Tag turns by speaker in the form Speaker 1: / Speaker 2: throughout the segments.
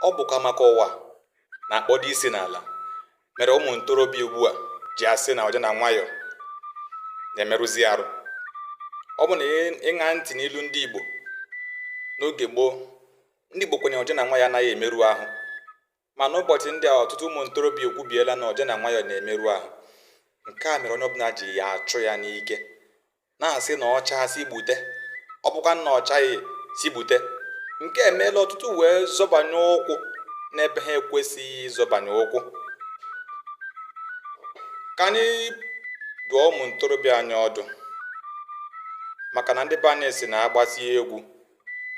Speaker 1: ọ bụkwa maka ụwa na-akpọdo isi n'ala mere ụmụ ntorobịa ugbu a ji asị na oje na nwayọọ na-emerụzi arụ ọ bụ na ịṅa ntị n'ilu ndị Igbo n'oge gboo ndị Igbo kwuru na oje na nwayọọ anaghị emerụ ahụ ma n'ụbọchị ndị a ọtụtụ ụmụ ntorobịa ekwubiela na oje na nwayọọ na-emerụ ahụ nke a mere onye ọbụla ji ya achụ ya n'ike na-asị na ọ chaa sị gbute ọ bụkwa na ọ chaghị sị gbute nke a emeela ọtụtụ wee zọbanye ụkwụ n'ebe ha ekwesịghị ịzọbanye ụkwụ ka anyị dụọ ụmụ ntorobịa anyị ọdụ maka na ndị be anyị sị na a gbasịa egwu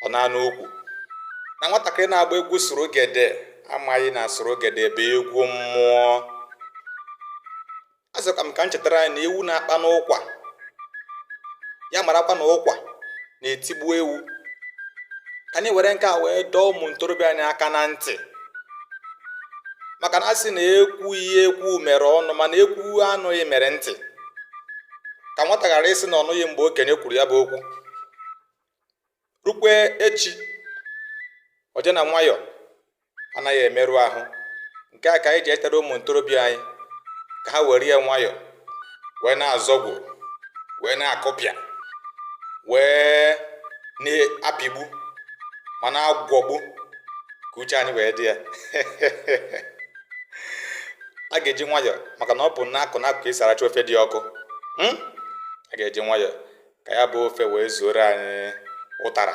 Speaker 1: ọ naa n'ukwu na nwatakịrị na-agba egwu surugede amaghị na surugede bụ egwu mmụọ asịkwa m ka m chetara anyị na ewu na-akpa n'ụkwa ya marakwa na ụkwa na-etigbu ewu ka anyị were nke a wee dọọ ụmụ ntorobịa anyị aka na ntị maka na a sị na ekwughị ekwu mere ọnụ mana ekwuo anụghị mere ntị ka nwata ghara ịsị na ọ nụghị mgbe okenye kwuru ya bụ okwu rukwe echi oje na nwayọọ anaghị emerụ ahụ nke a ka anyị ji echetara ụmụ ntorobịa anyị ka ha were ya nwayọọ wee na-azọgbu wee na-akụpịa wee na-apịgbu ma na-agwọgbu ka uche anyị wee dị ya a ga-eji nwayọọ maka na ọ bụ n'akụ n'akụ ka e si aracha ofe dị ọkụ hmm? a ga-eji nwayọọ ka ya bụ ofe wee zuoro anyị ụtara